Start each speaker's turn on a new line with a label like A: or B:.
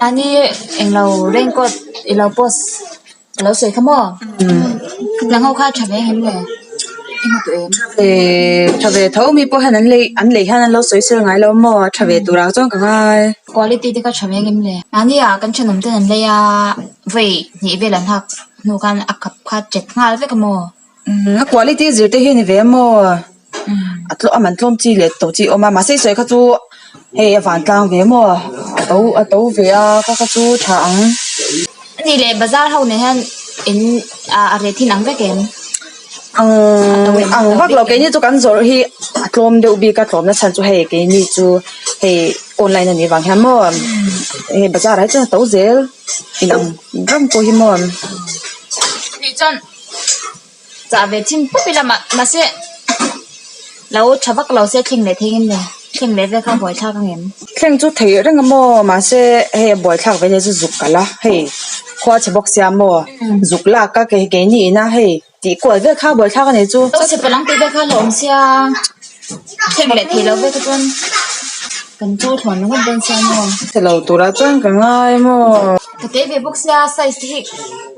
A: Ani englo raincoat ilo post alo sawi kha maw nang ho kha tha ve nghen nge i hmu tawh em tha ve tha ve tho mi pawh hian an lei an lei hian an lo sawi sir ngailo maw a tha ve turah chuan ka ngai quality te kha tha ve ngem le mahni ah kan thenawm ten an lei a vawi hnih vel an hak hnu khan a kap kha chet nghal vek a maw umm a quality zir te hian i ve maw. a man tlawm chi leh tawh chi a awm a mahse sawi kha chu hei a van tlang ve maw a to a to ve a ka kha chu tha ang ni leh bazar ho naih hian in ah a ret thin ang vek em ang ang vak lo keini chu kan zawrh hi a tlawm deuh bik a tlawm na chhan chu hei keini chu hei online a nih vang hian maw hei bazar ah hi chuan a to zel inang ram pawh hi maw ni chuan-- chah ve thin pup i lamah mahse lo tha vak lo se thleng leh thengin nen thleng leh vek a buaithlak angem thleng chu theih reng a maw mahse hei a buaithlak ve te chu zuk kalh a hei khua chhe bawk sia maw zuk lak a kei keini ina hei tih kual vek kha buaithlak a nih chu lo chhe palang tih vek kha hlauhawm sia thleng leh theih lo vek a chuan kan chaw thluan ringawt dawn sia maw tih lo tura chuan ka ngai maw ka tei ve bawk sia size te hi.